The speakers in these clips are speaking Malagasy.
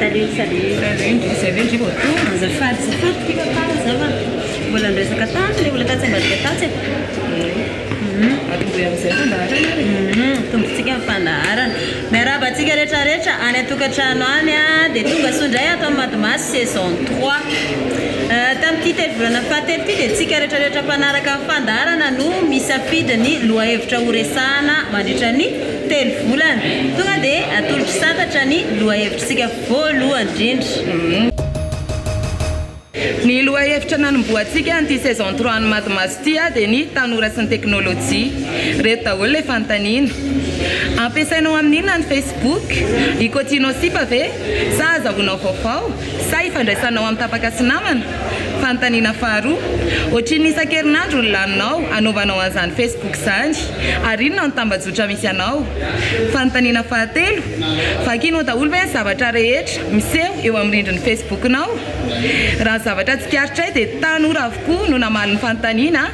Tariho tariho. Rarendra, izay ve ndry vao tonga? Azafady tsy fantatra ity tantara izao fa mbola niresaka tany ilay olona tatsy ambadika tatsy e. Atombohy amin'izay fandaharana ary. Atombontsika ny fandaharana. Miarahaba antsika rehetra rehetra any an-tokantrano any an, dia tonga soa indray ato amin'ny Madimasy saison trois. Tamin'ity telo-volana fahatelo ity dia antsika rehetra rehetra mpanaraka ny fandaharana no misafidy ny lohahevitra horesahana mandritra ny. Telo volana. Tonga dia atolotro santatra ny lohahevitr'isika voaloha indrindra. Ny lohahevitra nanombohantsika an'ity saison trois an'i Madimaso ity dia ny tanora sy ny teknolojia. Ireto daholo ilay fanontaniana. Ampiasainao amin'inona ny Facebook? I Kotino Sipa ve? Sa azahoanao vaovao? Sa ifandraisanao amin'ny tapaka sy namana? Fanontaniana faharoa. Ohatrinona isan-kerinandro no laninao anaovanao an'izany Facebook izany? Ary inona no tambajotra misy anao? Fanontaniana fahatelo. Vakinao daholo ve ny zavatra rehetra miseho eo amin'ny rindrin'ny Facebook-nao? Raha ny zavatra tsikaritray dia tanora avokoa no namaly ny fanontaniana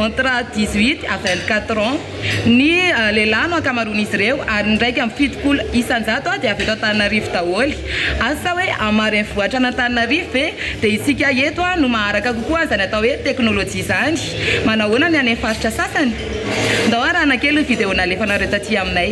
entre dix-huit à vingt-quatre ans. Ny lehilahy no ankamaroan'izy ireo ary ny iraika amby fitopolo isan-jato dia avy eto Antananarivo daholo. Asa hoe hamary ny vohitra an'Antananarivo ve? Dia isika eto no maharaka kokoa an'izany atao hoe teknolojia izany. Manao ahoana ny any amin'ny faritra sasany? Ndao arahana kely ny video nalefanareo taty aminay.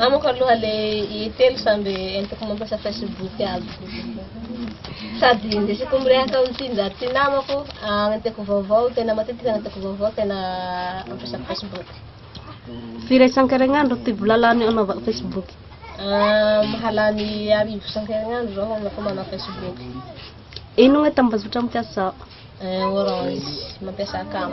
Amiko aloha le telo samby entiko mampiasa Facebook aby. Sady ndesiko mirehaka amin'ity njato ty namako, agnenteko vaovao, tena matetika agnenteko vaovao tena mampiasa Facebook. Firy isan-kerinandro ty vola lany anaovako Facebook? Mahalany arivo isan-kerinandro zaho anaovako manao Facebook. Ino ny tambazotra mampiasa? Orange, mampiasa cam.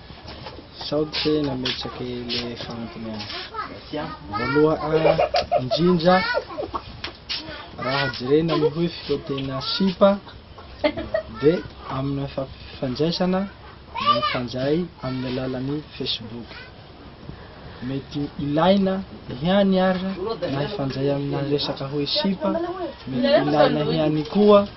Sao tsy nametraka ilay fanontaniana. Voaloha indrindra, raha jerena ny hoe fitaontena sipa dia amina fampifandraisana dia mifandray amin'ny alalan'ny Facebook. Mety ilaina ihany ary na hifandray amina resaka hoe sipa, mety ilaina ihany koa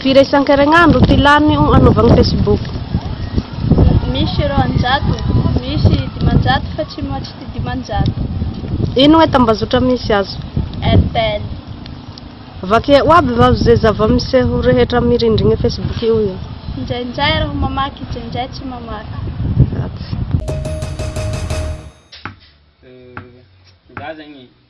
Firy isan-kerinandro no filàny hanaovagna Facebook? Misy roanjato, misy dimanjato fa tsy moatry ty dimanjato. Ino hoe tambazotra misy azo? RTL. Vakia ho aby va ze zava-miseho rehetra amy rindrigna Facebook eo io? Indraindray raho mamaky, indraindray tsy mamaky. Ratsy. Za zegny.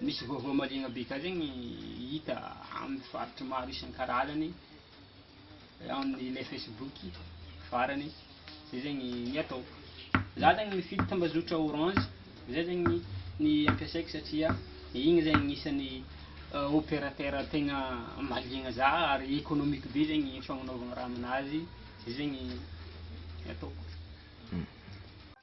Misy vaovao maliana be ka zegny hita amin'ny faritry maro isan-karazany ao amin'ilay Facebook farany zay zegny ny ataoko. Za zegny mifidy tambazotra Orange zay zegny ny ampiasaiko satria igny zegny isan'ny uh, opérateur tegna maliagna za ary économique be zegny fagnanaovagna raha aminazy zay zegny ny ataoko.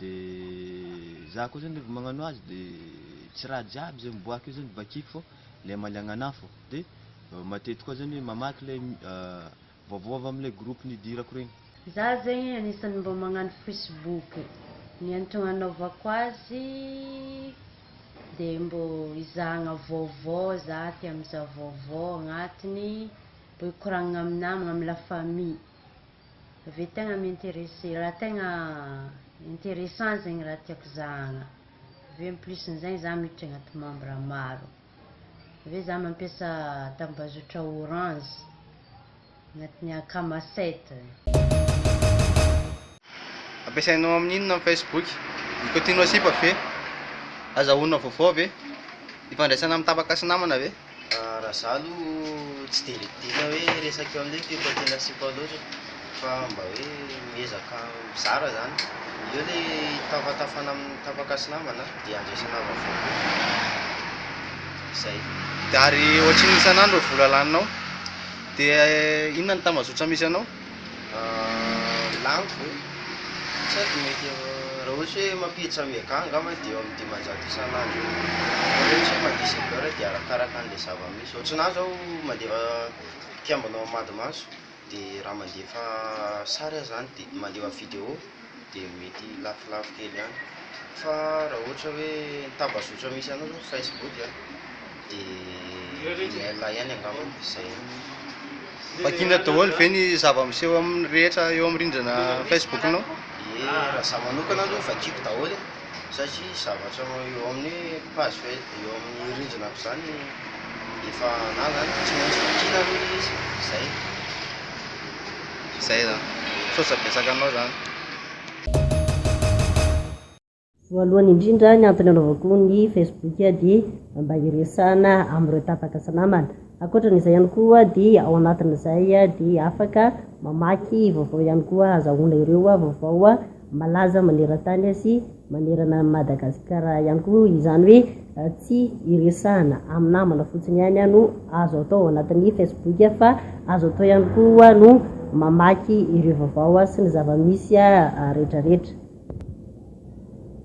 De za koa zany revo magnano azy de tsy raha jiaby zay miboaka eo zany vakiko fô le amaliagnan'afo de matety koa zany hoe mamaky le vaovao avy amle groupe nidirako regny. Za zegny agnisany mba magnano facebook ny antogno anaovako azy de mbô izahagna vaovao za tia mizaha vaovao agnatiny mbô hikoragnana amy namagna amy la famille. ve tegna mi-interesser, raha tegna interessant zegny raha tiako zahagna, aveo en plus n'izegny za miditra agnaty membre maro, aveo za mampiasa tambazotra orange agnatin'ny akama site. Ampiasainao amin'ny inona ny Facebook? Mikotinao sipa ve? Azahoanao vaovao ve? Ifandraisanao amin'ny tapaka sy namana ve? Raha za aloha tsy dia lidiana hoe resaka eo amin'ilay fiompy aty an'Atsipa ao loatra fa mba hoe miezaka mizara zany, eo ilay tafatafana amin'ny tapaka sy namana dia andraisana vaovao koa, zay. Ary ohatrin'ny isan'andro vola laninao dia inona ny tambazotra misy anao? Lany ve? Sady mety eo, raha ohatra hoe mampiditra mega angamba dia eo amin'ny dimanjato isan'andro eo, fa raha ohatra hoe mandeha zebeur dia arakaraka an'ilay zava-misy, ohatranà izao mandefa mpiambina ao Amadimaso dia raha mandefa sary aho izany dia mandefa vidéo. dia mety lafolafo kely ihany fa raha ohatra hoe ny tambazotra misy anao zao facebook a dia email ihany angamba izay Vakina daholo ve ny zava-miseho amin'ny rehetra eo amin'ny rindrina Facebook-nao? Ye, raha za manokana aloha vakiko daholo e. satria zavatra eo amin'ny page faha eo amin'ny rindrina aby zany efa na zany tsy maintsy vakiana aloha le izy zay zay zany misaotra betsaka anao zany Voalohany indrindra ny antony anaovako ny facebook dia mba hiresahana amin'ireo tapaka sy namana. Ankoatran'izay ihany koa dia ao anatin'izay dia afaka mamaky vaovao ihany koa ahazahoana ireo vaovao Malaza maneran-tany sy manerana an'i Madagasikara ihany koa izany hoe tsy iresahana amin'ny namana fotsiny ihany no azo atao ao anatin'ny Facebook fa azo atao ihany koa no mamaky ireo vaovao sy ny zava-misy rehetrarehetra.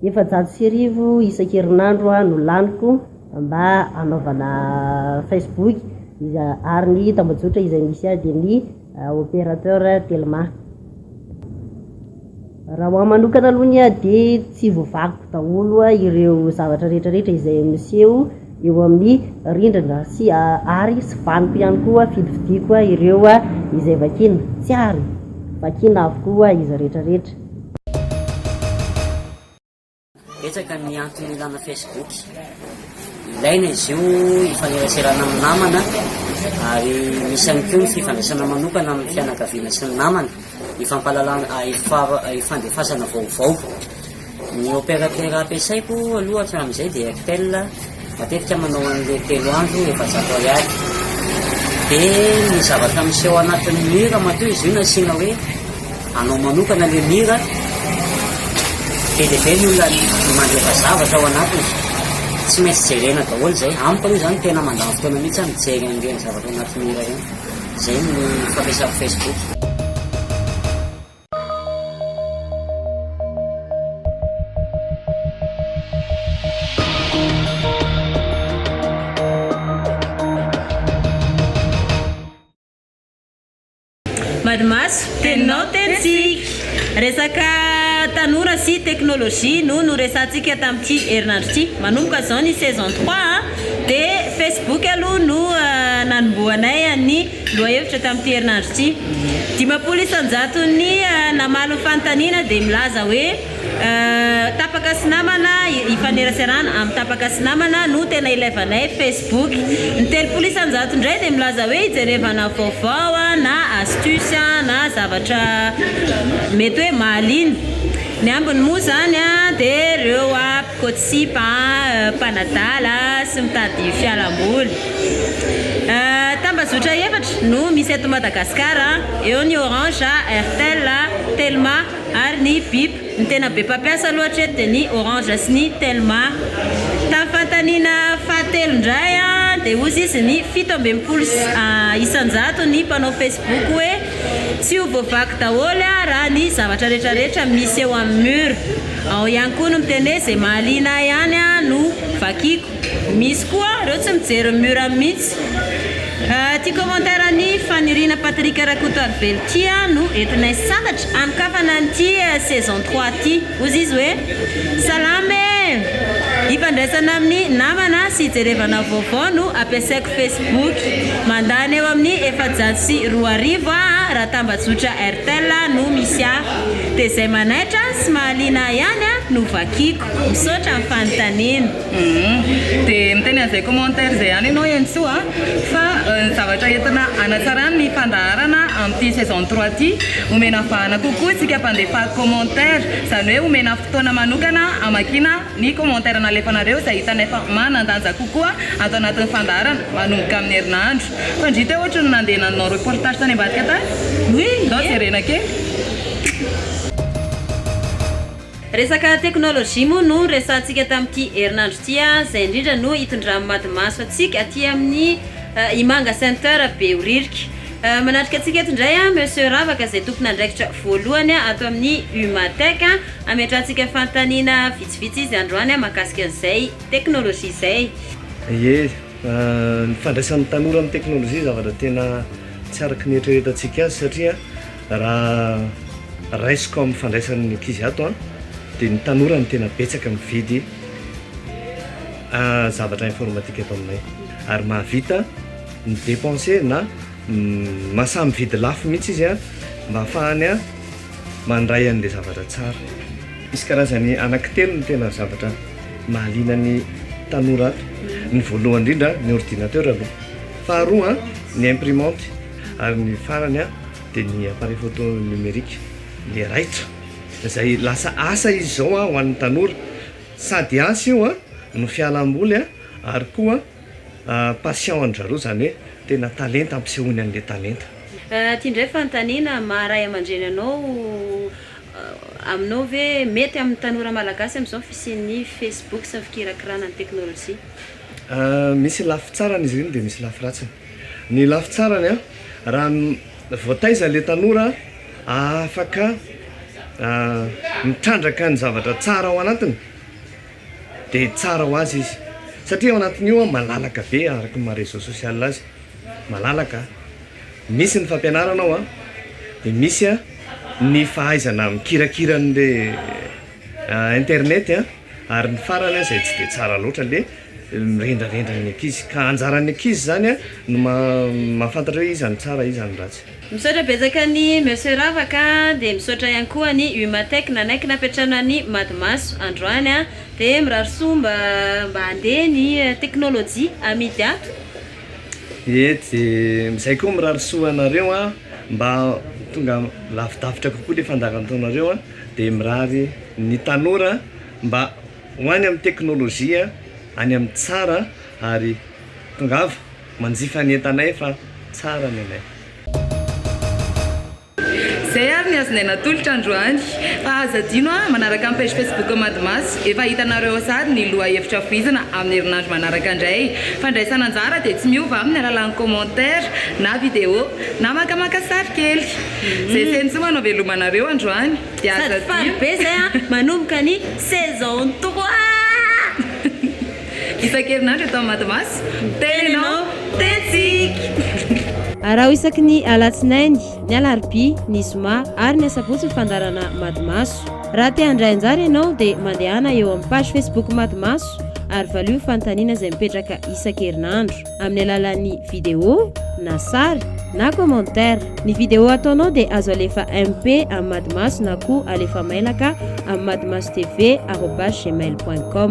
Efajato sy arivo isan-kerinandro no laniko mba hanaovana Facebook ary ny tambajotra izay misy ahy dia ny. Opérateur telma. Raha ho ahy manokana aloha ny ahy dia tsy voavakiko daholo ireo zavatra rehetra rehetra izay miseho eo amin'ny rindrina sy ary tsy vaniko ihany koa fidifidiako ireo izay vakiana, tsy ary, vakiana avokoa izy rehetra rehetra. Betsaka ny antony ilana Facebook. Ilaina izy io hifaneraserana amin'ny namana ary misy ihany koa ny fifandraisana manokana amin'ny fianakaviana sy ny namana, hifampalalana ah, hifa- hifandefasana vaovao. Ny opérateur ampiasaiko aloha hatramin'izay dia Airtel Matetika manao an'ilay telo andro, efajato ariary. Dia ny zavatra miseho anatin'ny mur matoa izy io no asiana hoe anao manokana ilay mur. Be dia be ny olona mandefa zavatra ao anatiny. Tsy maintsy jerena daholo izay. Amiko aloha izany tena mandany fotoana mihitsy aho mijery an'ireny zavatra anaty mur ireny. Izay no fampiasako Facebook. Madimaso, teninao tenintsika. Resaka tanora sy teknolojia no noresahantsika tamin'ity herinandro ity. Manomboka izao ny saison trois an, dia Facebook aloha no nanombohanay an'ny. Lohahevitra tamin'ity herinandro ity. Dimampolo isan-jaton'ny namaly ny fanontaniana dia milaza hoe tapaka sy namana ifaneraserana amin'ny tapaka sy namana no tena ilaivanay Facebook. Ny telopolo isan-jato indray dia milaza hoe ijerevana vaovao na astuce na zavatra mety hoe mahaliana. Ny ambiny moa izany dia ireo. Koa tsy sipa an, mpanadala sy mitady fialamboly. Tambazotra efatra no misy eto Madagascar, eo ny Orange, Airtel, Telma ary ny Bip. Ny tena be mpampiasa aloha hatreto dia ny Orange sy ny Telma. Tamin'ny fanontaniana fahatelo indray dia hozy izy ny fito amby enimpolo isan-jato ny mpanao Facebook hoe tsy ho voavaky daholo raha ny zavatra retraretra misy eo amin'ny mur. Ao ihany koa ny miteny hoe izay mahaliana ahy ihany no vakiako. Misy koa ireo tsy mijery ny mur mihitsy. Ity commentaire an'i Faniriana Patrick Rakotoarivelo ity no entinay sambatra hanokafana an'ity saison trois ity. Hozy izy hoe, Salama e! Hifandraisana amin'ny namana sy hijerevana vaovao no ampiasaiko Facebook. Mandany eo amin'ny efajato sy roa arivo aho raha tambajotra Airtel no misy ahy. Dia izay manaitra sy mahaliana ahy ihany no vakiako. Misaotra amin'ny fanontaniana. Humm. Dia miteny an'izay commentaire izay ihany ianao Henintsoa a! fa ny zavatra entina hanatsarana ny fandaharana amin'ity saison trois ity, omena vahana kokoa isika mpandefa commentaire, izany hoe omena fotoana manokana hamakiana. Ny commentaire nalefanareo izay hitanay fa manan-danja kokoa ato anatin'ny fandaharana manomboka amin'ny herinandro. Fandria teo ohatry ny nandeha nanao reportage tany ambadika tany. Oui, ndao jerena kely. Resaka teknolojia moa no resahantsika tamin'ity herinandro ity a, izay indrindra no hitondran'ny mady maso antsika aty amin'ny Imanga Center Behoririka. Manatrika antsika eto indray a Monsieur Ravaka izay tompon'andraikitra voalohany ato amin'ny Umatech. Hametrahantsika fanontaniana vitsivitsy izy androany mahakasika an'izay teknolojia izay. Ie, ny fandraisan'ny tanora amin'ny teknolojia zavatra tena tsy araka ny eritreretantsika azy satria raha raisiko amin'ny fandraisan'ny ankizy ato dia ny tanora no tena betsaka mividy zavatra informatika ato aminay ary mahavita mi-depenser na mahasahy mividy lafo mihitsy izy mba hahafahany mandray an'ilay zavatra tsara. Misy karazany anaky telo ny tena zavatra mahaliana ny tanora ato. Ny voalohany indrindra ny ordinateur aloha, faharoa ny imprimante ary ny farany dia ny appareil photo numérique le raitra izay lasa asa izy izao ho an'ny tanora, sady asa io no fialamboly ary koa. Passion an-dry zareo izany hoe tena talenta ampisehoany an'ilay talenta. Aty indray fanontaniana, maha ray aman-dreny anao aminao ve mety amin'ny tanora malagasy amin'izao ny fisian'ny Facebook sy ny fikirakirana ny teknolojia? Misy lafy tsarany izy ireny dia misy lafy ratsiny. Ny lafy tsarany, raha voataiza ilay tanora afaka mitrandraka ny zavatra tsara ao anatiny, dia tsara ho azy izy satria ao anatin'io an malalaka be araka ny maha réseau social azy malalaka misy ny fampianarana ao an dia misy an ny fahaizana mikirakira an'le internet an ary ny farany an izay tsy dia tsara loatra le mirendrarendra ny ankizy ka anjaran'ny ankizy izany an no ma- mahafantatra hoe iza no tsara iza no ratsy Misaotra betsaka an'i Monsieur Ravaka dia misaotra ihany koa an'i Humatech nanaiky nampiantrano an'i Madimaso androany a! dia mirary soa mba mba handeha ny teknolojia amidy ato. Ie dia izay koa mirary soa anareo a! mba tonga lavidavitra kokoa ilay fandaharan taonareo a! dia mirary ny tanora mba ho any amin'ny teknolojia any amin'ny tsara ary tongava. Manjifa ny entanay fa tsara ny anay. Zay ary ny azonay natolotra androany. Fa aza adino an, manaraka ny page Facebook Madmas, efa hitanareo ao sary ny loha hevitra fohizana amin'ny herinandro manaraka indray. Fandraisana anjara dia tsy miova amin'ny alalan'ny commentaire na video na makamaka sary kely. Zay feno soa manaveloma anareo androany dia aza adino. Sady faly be zay an, manomboka ny saison toko aa! Isan-kerinandro eto amin'ny Madimaso, miteny ianao, tentsika! Araho isaky ny Alatsinainy, ny Alarobia, ny Zoma ary ny Asabotsy ny fandaharana Madimaso. Raha te handray anjara ianao dia mandehana eo amin'ny page Facebook Madimaso ary valio ny fanontaniana izay mipetraka isan-kerinandro. amin'ny alalan'ny vidéo na sary na commentaire. Ny vidéo ataonao dia azo alefa MP amin'ny Madimaso na koa alefa mailaka amin'ny madimasotv arobase gmail.com.